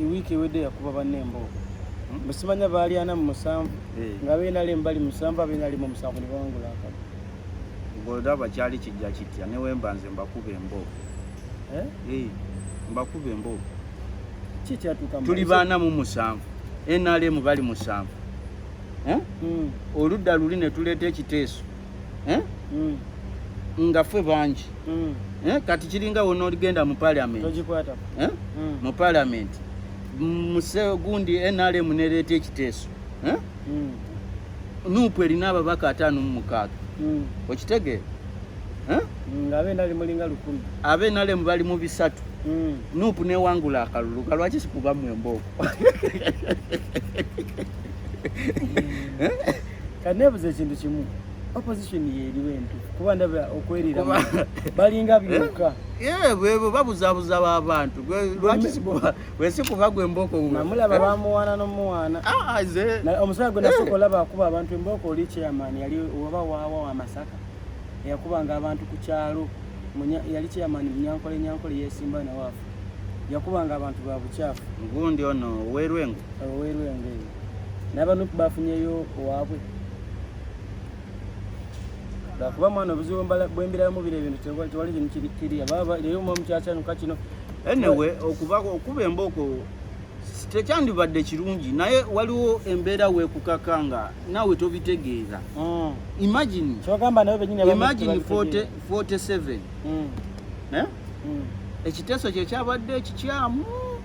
[SPEAKER 1] ewiiki ewedde yakuba banne embooko hmm? musimanya baalyana mu musanvu eh. nga beenali embali musanvu abeenali mu musanvu ne bawangula akaba golaba
[SPEAKER 2] kyali kijja kitya ne wemba nze mbakuba embooko eh? eh, mbakuba embooko
[SPEAKER 1] tuli baana mu
[SPEAKER 2] musanvu nrm bali musanvu hmm. oludda luli ne tuleeta ekiteeso eh? mm. nga ffe bangi mm. eh? kati kiringa wona oligenda mu parliament eh? mm. mu parliament muse gundi nrm nereeta ekiteeso eh? mm. nupu erina ababaka ataano mu mukaaga mm. okitegeera
[SPEAKER 1] eh? mm, abe nrm bali
[SPEAKER 2] mu bisatu mm. nupu newangula akalulu kalwaki sikubamu embooko mm. eh?
[SPEAKER 1] kati nebuza ekintu kimu opposition yeriwo entufu kuba ndaba okwerira balinga byoka bwebo
[SPEAKER 2] babuzabuza babantu wesi kuba gwe embooko namulaba bamuwaana
[SPEAKER 1] nomuwaana ah, ah, omusala gwe nasoka olaba akuba abantu embooko oli chairman yali oba waawa wa masaka eyakubanga abantu ku kyalo yali chairman munyankole nyankole yesimba nawaafu yakubanga abantu ba bucaafu ngundi ono
[SPEAKER 2] owerwengo owerwengo n'abanup
[SPEAKER 1] bafunyeyo owaabwe lwakuba mwana obuzibu bwembiramu bira ebintu tewali kintu kirikiria baba leero mwa mukyakyanuka kino anyway
[SPEAKER 2] okuba okuba embooko tekyandibadde kirungi naye waliwo embeera wekukaka nga nawe tobitegeeza mm. imagine 47 ekiteeso kyekyabadde ekikyamu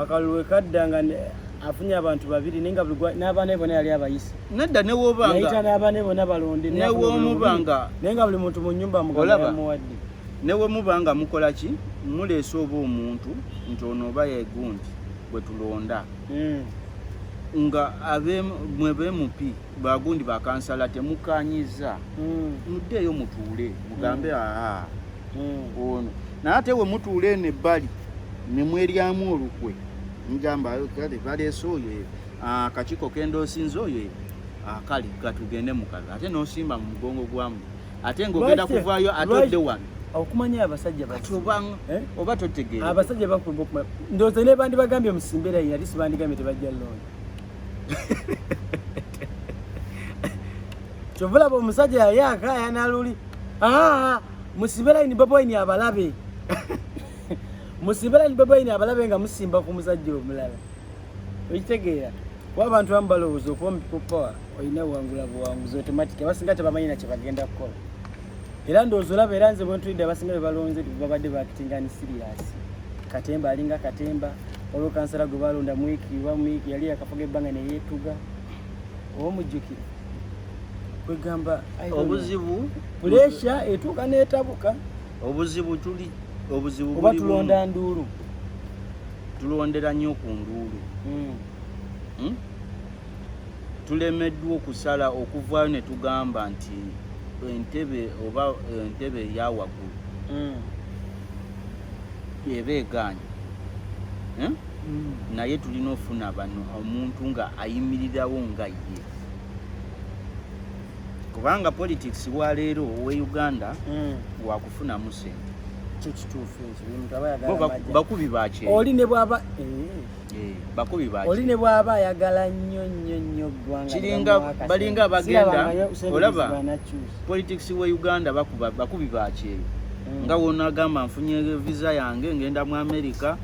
[SPEAKER 1] akalulu wekadda nga afunye abantu babiri naye nga n'abaana bona yali abayise nedda newobangayita
[SPEAKER 2] n'abaana bona
[SPEAKER 1] balonde newomubanga
[SPEAKER 2] naye nga buli muntu mu
[SPEAKER 1] nyumba mugamuwadde newemuba nga
[SPEAKER 2] mukola ki muleese oba omuntu nti ono oba yegundi bwe tulonda hmm. nga mwebemupi bagundi bakansala temukanyiza mm. muddeeyo mutuule mugambe mm. aa mm. ono naye ate we mutuula eno ebbali ne mweryamu olukwe mugamba kale baleese oyo e, akakiiko kendoosinza oyo e, akali katugende mukazi ate nosimba mu mugongo gwamu ate ngaogenda kuvaayo ate odde wano okumanya abasajja
[SPEAKER 1] bati eh? oba
[SPEAKER 2] totegeera abasajja bakuba okumanya
[SPEAKER 1] ndowooza nebandibagambye musimbera yali sibandigambye tebajja looni kyova olaba omusajja yali akayana luli ah, musibe layini baboyini abalabe musibe layini baboyini abalabe nga musimba ku musajja omulala okitegeera kuba abantu bamu balowooza okuba omupipopowa olina buwangula buwanguzi otomatiki abasinga tebamanyi na kyebagenda kukola era ndowooza olaba era nze bwentulidde abasinga be balonze babadde bakitinga ni siriyasi katemba alinga katemba olwo kansala gwe balonda mwiki wa mwiki yali yakafuga ebbanga neyetuga oba mujjukire kwegamba obuzibu
[SPEAKER 2] puresha
[SPEAKER 1] etuuka netabuka obuzibu
[SPEAKER 2] tuli obuzibu
[SPEAKER 1] oba tulonda nduulu
[SPEAKER 2] tulondera nnyo ku nduulu hmm. Hmm? tulemeddwa okusala okuvaayo ne tugamba nti entebe oba entebe eya waggulu mm. eba egaanyi eh? mm. naye tulina ofuna bano omuntu nga ayimirirawo nga ye kubanga politics waleero owe uganda mm. wakufunamu sente kyo kituufu
[SPEAKER 1] ekyo
[SPEAKER 2] bakubi bakyoli ne bwaba eh.
[SPEAKER 1] Eh,
[SPEAKER 2] bakubi baki oli ne bwaba ayagala
[SPEAKER 1] nnyo nnyo nnyo ggwanga kiringa balinga
[SPEAKER 2] bagenda olaba politics we uganda bakuba bakubi bakyeyo mm. nga wona agamba nfunye visa yange ngenda mu america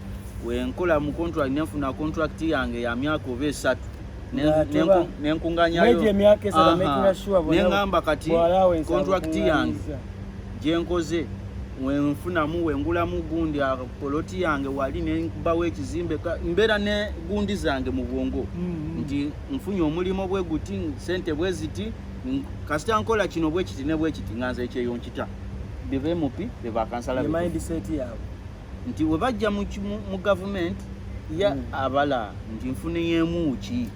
[SPEAKER 2] wenkola mu contract nenfuna contract yange ya myaka oba esatu nenkunganyayo neŋamba kati contract yange gyenkoze wenfunamu wengulamu gundi poloti yange wali nenkubawo ekizimbe mbeera ne gundi zange mu bwongo mm-hmm. nti nfunye omulimu bwe guti sente bwe ziti kasita nkola kino bwe kiti ne bwe kiti nga nze ekyeyo nkita bebe mupi bebakansala
[SPEAKER 1] nti we bajja
[SPEAKER 2] mu gavumenti ya mm. abala nti nfuneyo emuuki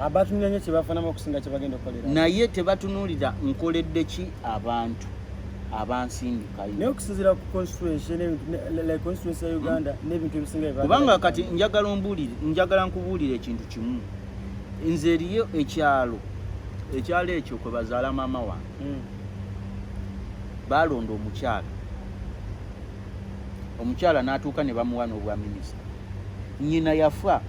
[SPEAKER 2] abatunulira nyo
[SPEAKER 1] kyebafunamu okusinga kyebagenda okukolera naye tebatunulira
[SPEAKER 2] nkoledde ki abantu abansindikayo naye okusinzira
[SPEAKER 1] ku constituency ya uganda hmm. n'ebintu ebisinga kubanga kati njagala
[SPEAKER 2] ombuulire njagala nkubuulire ekintu kimu nze eriyo ekyalo ekyalo ekyo kwe bazaala maama wange hmm. baalonda omukyala omukyala n'atuuka ne bamuwa n'obwa minisita nyina yafa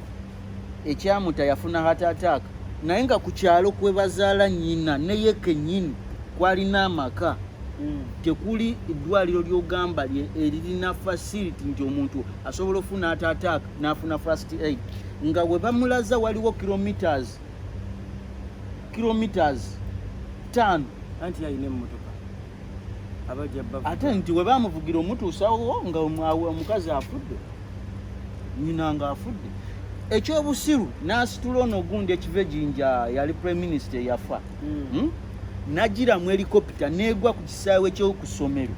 [SPEAKER 2] ekyamuta yafuna heart attack naye nga ku kyalo kwe bazaala nyina neye kenyini kwalina amaka mm. tekuli eddwaliro lyogamba eririna facility nti omuntu asobola ofuna heart attack nafuna first aid nga we bamulaza waliwo kilometers kilometers tano anti yalina
[SPEAKER 1] emmotoka ate
[SPEAKER 2] nti we bamuvugira omutuusawo nga omukazi afudde nyina nga afudde ekyobusiru n'asitula ono ogundi ekiva ejinja yali prime minister eyafa hmm. hmm? nagira mu helikopita negwa ku kisaawe kyokusomero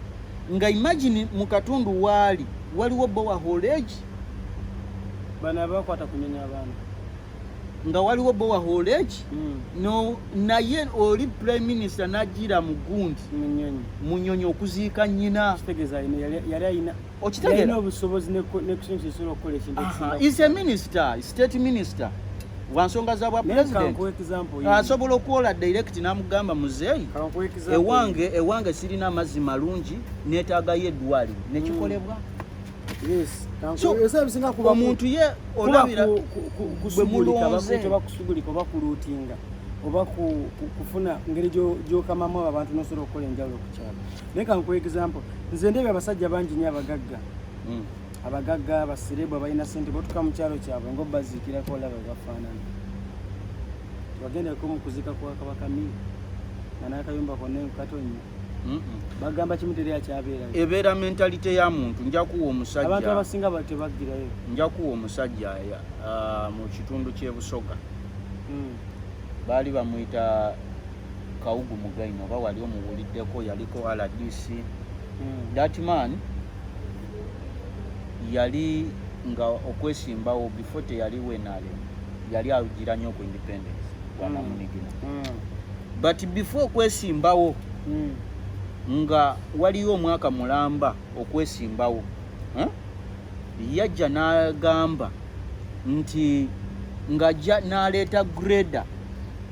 [SPEAKER 2] nga imagine mu katundu waali waliwo bowa holegi
[SPEAKER 1] bana bakwata kunyenya abantu nga
[SPEAKER 2] waliwo bowaholeki mm. no, naye oli prime minister najira mu gundi munyonyi okuziika nyina
[SPEAKER 1] okitegeraise minister
[SPEAKER 2] state minister wansonga za bwa president asobola okuwola direct namugamba muzeeyi ewange ewange sirina amazzi malungi netagayo eddwaliro nekikolebwa mm. omuntu ye olabira bwe
[SPEAKER 1] mulonze bakusugulika oba kuluutinga oba kufuna ngeri gyokamamu abo abantu nosobola okukola enjawulo ku kyalo naye kankuwa example nze ndebye abasajja bangi nyo abagagga hmm. abagagga abaserebu abalina sente botuka mu kyalo kyabwe ngaobaziikirako olaba bafaanana wagendeko mu kuzika kwa kabaka mi nga nakayumba konna enkatonya bagamba kimu teri akyabeera ebeera mentalite
[SPEAKER 2] ya muntu njakuwa omusajja abantu abasinga
[SPEAKER 1] batebaggirayo njakuwa omusajja
[SPEAKER 2] ah, mu kitundu ky'ebusoga hmm. baali bamuyita kawugu mugaino oba wali omuwuliddeko yaliko rdc hmm. that man yali nga okwesimbawo before teyali wenale yali agira nnyo ku independence gwanamunigina hmm. but before okwesimbawo mm. nga waliyo omwaka mulamba okwesimbawo eh? yajja n'agamba nti ng'ajja n'aleeta greda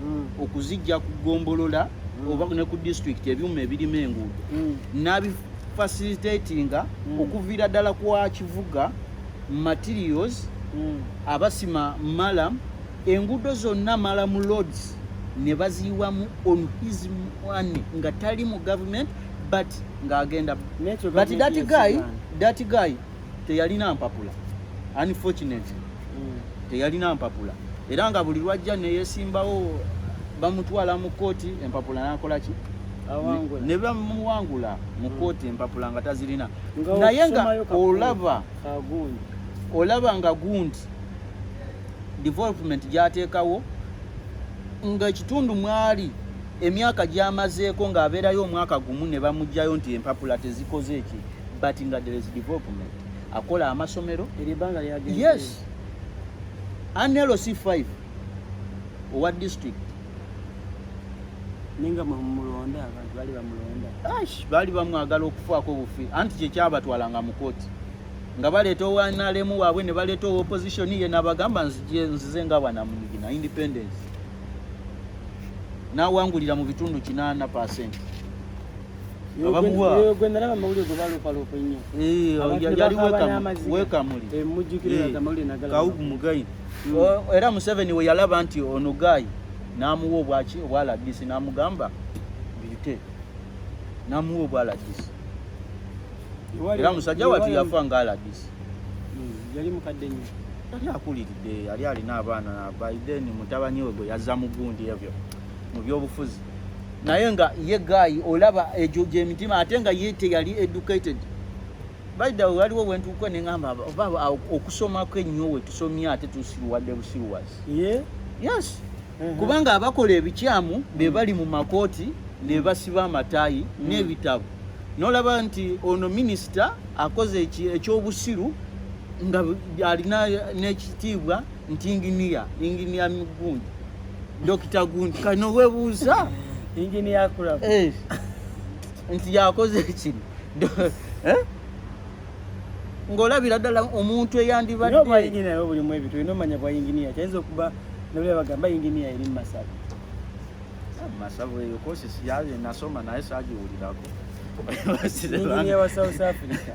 [SPEAKER 2] mm. okuzijja ku gombolola mm. oba ne ku disitulikiti ebyuma ebirima enguudo mm. n'abifasilitatinga mm. okuviira ddala kwa kivuga materials mm. abasima malam enguudo zonna mala mu loads ne baziyiwamu on his money nga tali mu government but ng'agenda but that guy that guy teyalina mpapula unfortunately mm. teyalina mpapula era nga buli lwajja neyesimbawo bamutwala mu kkooti empapula nakolaki ne bamuwangula mu kkooti mm. empapula nga tazirina naye nga olaba olaba nga gundi development gyateekawo ng'ekitundu mwali emyaka gyamazeeko ng'abeerayo omwaka gumu ne bamugjayo nti empapula tezikoze eki but nga there is development akola amasomero yes anlc 5 owa district
[SPEAKER 1] ninga mulonda abantu bali bamulonda baali bamwagala
[SPEAKER 2] okufaako obufi anti kyekyabatwalanga mu kooti nga baleeta owa nrm waabwe ne baleeta owa opposition ye nabagamba nzize nga bwanamuyigi na independence nawangulira mu bitundu kinaana percent
[SPEAKER 1] abamuwaamugayi
[SPEAKER 2] era museveni we yalaba nti ono gayi namuwa obwaki obwaladisi namugamba bite namuwa obwaladisi era musajja watu yafa nga alagisi hmm, yali
[SPEAKER 1] mukadde nnyo yali akuliridde
[SPEAKER 2] yali alina abaana by then mutabani we gwe yazza mu gundi ebyo mu byobufuzi naye nga ye gaayi olaba egyo gyemitima ate nga ye teyali educated baida waliwo wentuuka neŋamba oba okusomako ennyo wetusomye ate tusiruwadde busiruwazi yes mhm. kubanga abakola ebikyamu mm. be bali mu makooti ne mm. basiba amataayi mm. n'ebitabo nolaba nti ono minisita akoze ekyobusiru nga alina n'ekitiibwa nti inginiya inginiya gundi dokita gundi kano webuuza inginiya
[SPEAKER 1] kulaba
[SPEAKER 2] eh, nti yakoze ekino eh? ng'olabira ddala omuntu eyandibadde obwa yinginiya nawe bulimu
[SPEAKER 1] ebintu olina omanya bwa yinginiya kyayinza okuba nabula bagamba yinginiya eri mu masabu ah,
[SPEAKER 2] masabu eyo kosi siyaye nasoma naye sagiwulirako
[SPEAKER 1] yinginiya wa south africa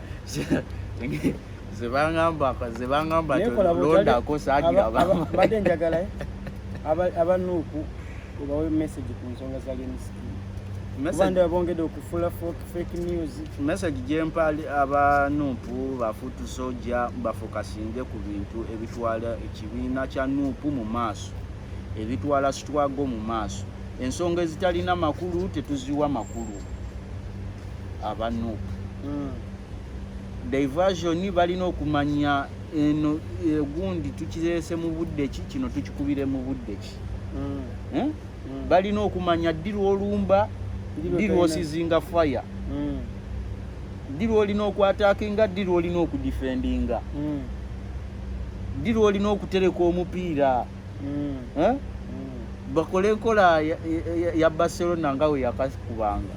[SPEAKER 2] zebangamba zebangamba londako sagira abadde njagala
[SPEAKER 1] eh? abanuuku obawe message ku nsonga za lenskin kubanda babongedde okufula foka fake news message gyempali
[SPEAKER 2] aba nupu bafutu soja bafokasinge ku bintu ebitwala ekibiina kya nupu mu maaso ebitwala sitwago mu maaso ensonga ezitalina makulu tetuziwa makulu aba nupu mm. diversion balina okumanya eno egundi eh, tukirese mu budde ki kino tukikubire mu budde ki mm. eh? mm. balina okumanya ddi lwolumba ddi lwosizinga fire mm. ddi lwolina okwatakinga ddi lwolina okudifendinga mm. ddi mm. lwolina okutereka omupiira mm. eh? mm. bakole enkola ya, ya, ya barcelona nga weyakakubanga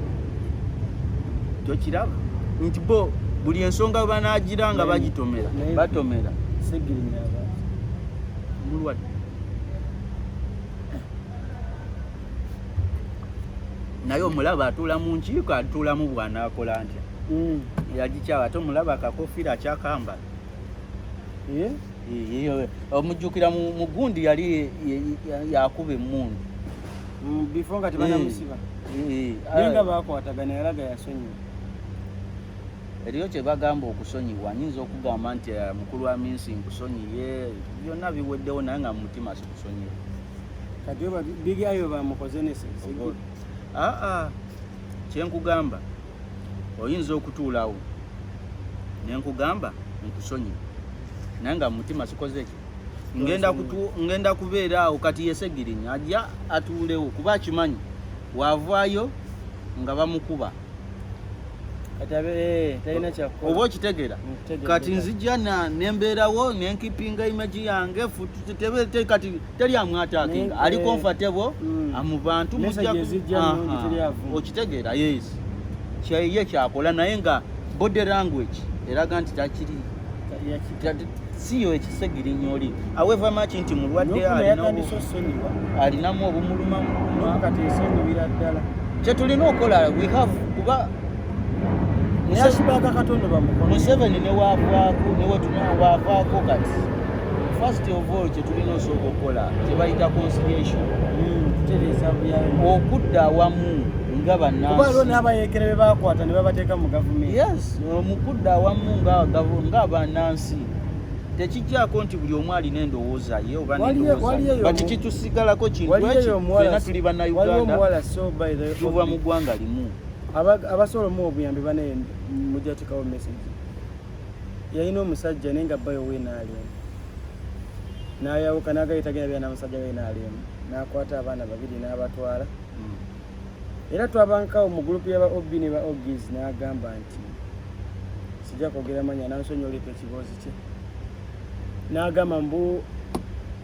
[SPEAKER 1] tokiraba
[SPEAKER 2] nti bo buli ensonga banagira nga bagitomera batomera
[SPEAKER 1] mulwadde
[SPEAKER 2] naye omulaba atuula mu nkiiko atuulamu bwanaakola ntya mm. yagikyawa ate omulaba akakofiira akyakambala eh? omujjukira mu gundi yali yakuba emmundu mm, before
[SPEAKER 1] nga tebanamusiba mm, mm, naye nga bakwatagana yalaga yasonyiwa
[SPEAKER 2] eriyo kyebagamba okusonyiwa nyinza okugamba nti eh, mukulu wa minsi nkusonyiye byonna biweddewo naye nga mumutima sikusonyiwa kati
[SPEAKER 1] oba bigi ayo bamukoze neseaa ah, ah.
[SPEAKER 2] kyenkugamba oyinza okutuulawo nenkugamba nkusonyiwa naye nga mumutima sikoze ngenda kubeera awo kati yesegirinya ajja atuulewo kuba akimanyi waavaayo nga bamukuba Eh, oba okitegera kati nzija nembeerawo nenkipinga imaji yange kati teri amwatakinga eh, ali comfortable mm. amubantu okitegeera yes kyeye kyakola naye nga body language eraga nti takiri siyo ekisegirinya oli aweva maki nti mulwadde alinamu obumulumamuatesonyiwiraddala kyetulina okukola we have kuba neyasibaka katonda bamuko museveni newavaako newetunawavaako kati first of all kyetulina osooka okukola kyebayita conciliation hmm, okudda awamu nga bannansi kuba lwo n'abayeekera
[SPEAKER 1] be baakwata ne babateeka mu gavumenti mu kudda
[SPEAKER 2] awamu nga bannansi tekijjako nti buli omu alina endowooza ye obati kitusigalako kintuena tuli bannayuganda tuva mu ggwanga limu abasobola
[SPEAKER 1] omuwa obuyambi banaye mujatekawo message yalina omusajja naye nga bayo wenaalemu nayawuka nagayitagenda byana musajja wenaalemu nakwata abaana babiri nabatwala hmm. era twabankawo mu gurupu yaba ob ne ba ogis n'agamba nti sijja kwogera manya nansonyi oleeta ekiboozi kye n'agamba mbu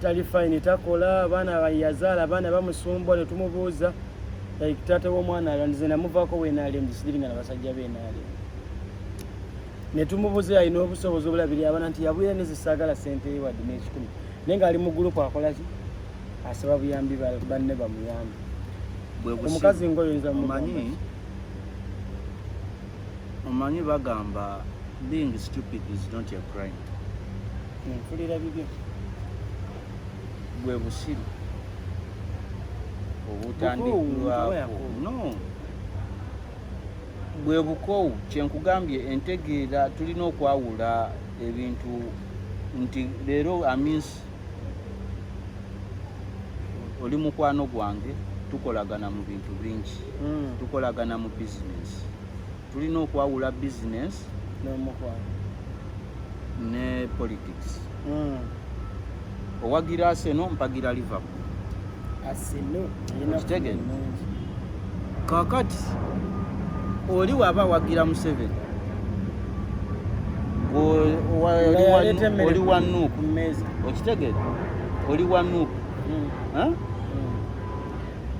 [SPEAKER 1] tali fayini takola abaana yazaala abaana bamusumbwa ne tumubuuza like taata w'omwana alyo ndize namuvaako wenaalem gisidiringa na basajja benaalem ne tumubuuza yalina obusobozi obulabiri abana nti yabwira nezisaagala sente ewadi n'ekikumi naye ng'ali mu gurupu akolaki asaba buyambi banne bamuyambi omukazi ngoyoyinza mumanyi
[SPEAKER 2] omanyi bagamba being stupid is not a crime nfulira
[SPEAKER 1] bibyo
[SPEAKER 2] bwe busiru obutandikirwako no bwe bukoowu kyenkugambye entegeera tulina okwawula ebintu nti leero amins oli mukwano gwange tukolagana mu bintu bingi hmm. tukolagana mu bizinesi tulina okwawula bizinesi ne politics hmm. owagira aseno mpagira liverpool kakati oli waba awagira museveni oli wa nup okitegere oli wa nup hmm. hmm.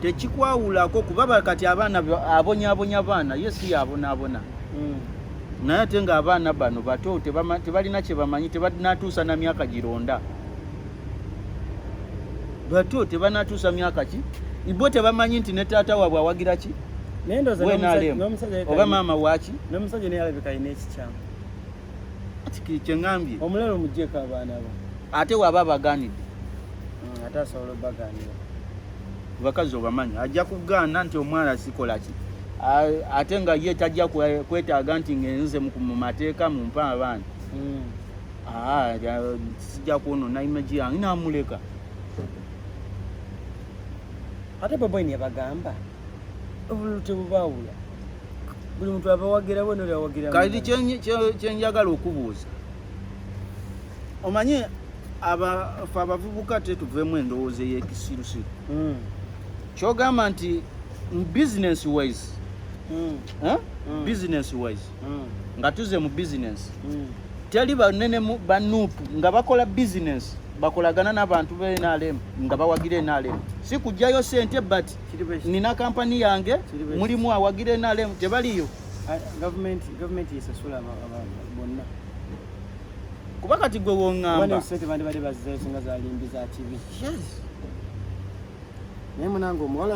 [SPEAKER 2] tekikwawulako kuba kati abaana abonyabonya abaana ye si yabonabona hmm. naye ate nga abaana bano bato tebalina kyebamanyi tebanatuusa na myaka gironda batyo tebanatuusa myaka ki ibo tebamanyi nti ne taata waabwe awagira ki oba maama waki
[SPEAKER 1] kyeŋambye
[SPEAKER 2] omulalo mujeko abaana
[SPEAKER 1] bo ate waba
[SPEAKER 2] abaganidde mm, ate
[SPEAKER 1] asobola obaganira bakazi
[SPEAKER 2] obamanyi ajja kugaana nti omwana sikola ki ate nga ye tajja kwetaaga nti ngenze mu mateeka mumpa abaana mm. Ah, sija kuonona imaji yange namuleka
[SPEAKER 1] ate baba ni abagamba obulute bubawula buli muntu abawagira bwena oli awagira kati
[SPEAKER 2] kyenjagala okubuuza omanye abafe abavubuka te tuvemu endowooza eyekisirusiru hmm. kyogamba nti business wise hmm. Eh? Hmm. business wise mm. nga tuze mu business mm. teli banene ba nup nga bakola business bakolagana n'abantu be NRM nga bawagira NRM si kujjayo sente but nina kampani yange mulimu awagira NRM tebaliyo ah, gavumenti
[SPEAKER 1] gavumenti esasula bonna
[SPEAKER 2] kuba kati gwe wongamba sente bandibadde bazizayose
[SPEAKER 1] nga zalimbi za kibi yes naye munange omuwala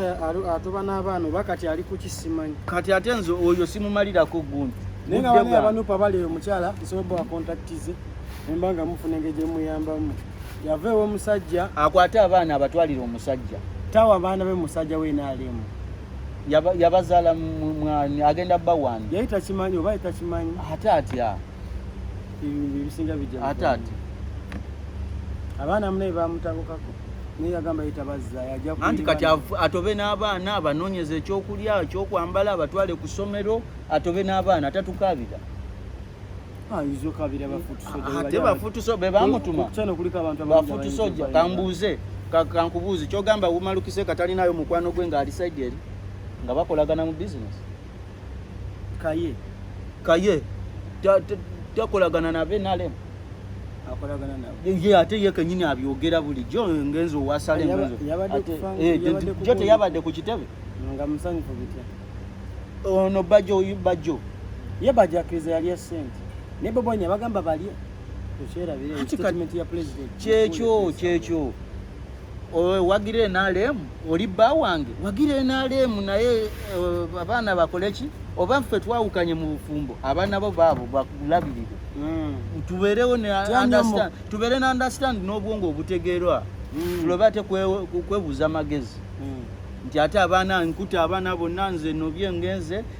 [SPEAKER 1] atoba n'abaana
[SPEAKER 2] oba
[SPEAKER 1] kati
[SPEAKER 2] ali kuki simanyi
[SPEAKER 1] kati ate
[SPEAKER 2] nze
[SPEAKER 1] oyo
[SPEAKER 2] simumalirako gundi
[SPEAKER 1] naye nga bana abanupa bali eyo mukyala nsobobba wakontakitize nemba nga mufuna engeri gyemuyambamu yava ewomusajja akwate abaana
[SPEAKER 2] abatwalire omusajja tawa abaana be
[SPEAKER 1] musajja wenaalimu
[SPEAKER 2] yabazaala agenda bawani yali takimanyi oba yali
[SPEAKER 1] takimanyi ate atya ebisinga bijja ate ate abaana munaye bamutabukako naye yagamba yetabazza anti kati atobe
[SPEAKER 2] n'abaana abanoonyeza ekyokulya ekyokwambala abatwale ku ssomero atobe n'abaana tatukaabira ate bafutuso be bamutuma bafutusoja kambuuze kankubuuzi kyogamba wumalukise katalinayo mukwano gwe ng'ali saidi eri nga bakolagana mu bizinesi kaye kaye takolagana nabe nalem ate ye kenyini abyogera bulijjo ngenzi owasalemjo eh, teyabadde ku kitebe
[SPEAKER 1] ono
[SPEAKER 2] bajjo oyu bajjo ye bajjo
[SPEAKER 1] akkiriza yalya sente naye bobonya bagamba balye kyekyo
[SPEAKER 2] kyekyo wagira NRM oli bba wange wagira NRM naye eh, abaana bakole ki oba ffe twawukanye mu bufumbo abaana bo baabo bakulabirire hmm. tubeerewo tubeere na understand n'obwongo obutegeerwa hmm. tulobe ate kwebuuza amagezi hmm. nti ate abaana nkuta abaana bonna nze nobye ngenze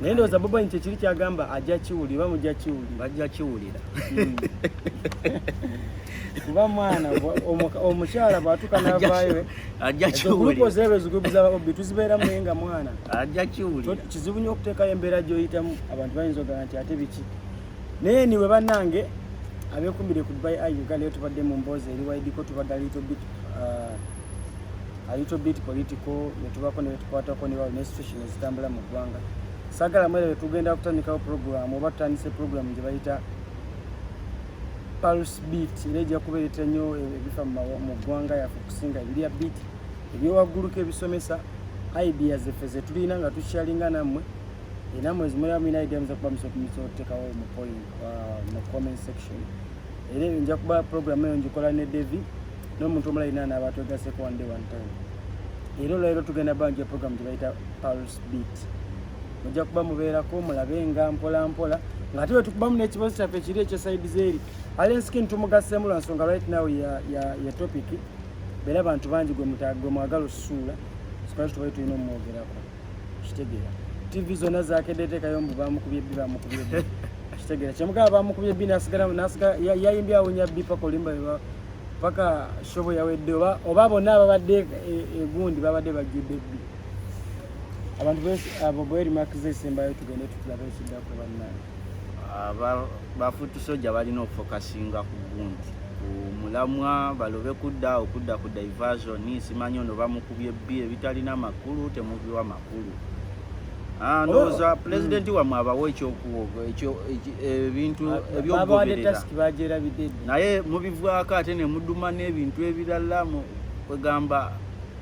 [SPEAKER 1] naye ndowooza boba nti ekiri kyagamba ajja kiwulira oba mujja kiwulira bajja kiwulira hmm. kuba mwana omukyala bwatuka navayo
[SPEAKER 2] ajjakiwuliraebizibu
[SPEAKER 1] tuzibeeramu naye nga mwana ajja kiwulira
[SPEAKER 2] kizibu nyo okuteekayo
[SPEAKER 1] embeera gyoyitamu abantu bayinza ogana nti ate biki naye niwe bannange abekumbire ku dubai i uganda yo tubadde mu mboozi eriwaidiko tubadde little bit uh, a little bit political netubako nebetukwatako nebawo neinstitution ezitambula mu ggwanga sagala mwere wetugenda kutandikawo program oba tutandise program gye bayita pulse beat era ejja kubeereta nnyo ebifa mu ggwanga yaffe okusinga ebirya beat ebyowagguluka ebisomesa idea zeffe zetulina nga tukyalinga nammwe enamwe zimulaba mulina idea muza kuba musokumisa otutekawo mu point mu comment section era nja kuba program eyo njikola ne devi n'omuntu omulala yenna anaaba twegaseko one day one time era olwaliro tugenda banja program gye bayita pulse beat mujja kuba mubeerako mulabe nga mpola mpola nga ate wetukubamu n'ekibazo kyaffe kiri ekyo side zeeri alen skin tumugaseemu lwa nsonga right now ya, ya, ya topic beera bantu bangi gwe mwagala osusuula sikwaki tubaye tulina omwogerako kitegera tv zona zakedde tekayo mbu bamukubye bbi bamukubye bbi kitegera kyemugaba bamukubye bbi nasigala nasiga yayimbye awunya bbi paka olimba paka shobo yawedde oba oba bonna ababadde egundi e, babadde bajjudde bbi abantu abo bwerimakiza esembayo tugende tutulabe ekiddako bannaye bafutu
[SPEAKER 2] soja balina okufokasinga ku gunti ku mulamwa balobe kudda okudda ku diversion simanyi ono bamukubye bbi ebitalina makulu temubiwa makulu ah, ndowooza oh, pulezidenti mm. wamwe abawo ekyokuwogo ebintu ebyokugoberera naye mubivwako ate nemuduma n'ebintu ebirala kwegamba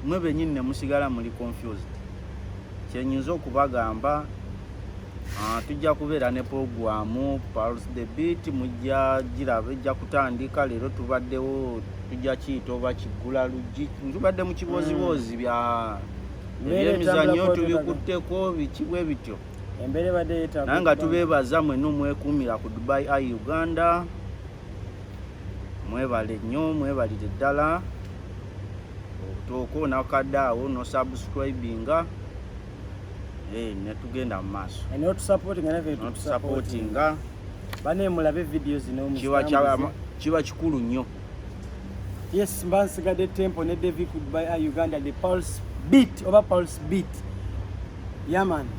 [SPEAKER 2] mwe benyini nemusigala muli confused kyenyinza okubagamba Ah, tujja kubeera ne pulogulaamu pals the beat mujja giraba ejja kutandika leero tubaddewo tujja kiyita oba kiggula luggi tubadde mu kibooziboozi bya mm. ebyemizannyo tubikutteko biki bwe bityo naye nga tubeebaza mwena omwekuumira ku dubai i uganda mwebale nnyo mwebalire ddala obutooko nakadde awo nosubscribinga eh, netugenda mu maaso notusapootinga bane mulabe
[SPEAKER 1] vidiyo zino
[SPEAKER 2] kiba kikulu nnyo
[SPEAKER 1] yes mba nsigadde tempo ne davi goodby a uganda the pulse beat oba pulse beat yaman yeah,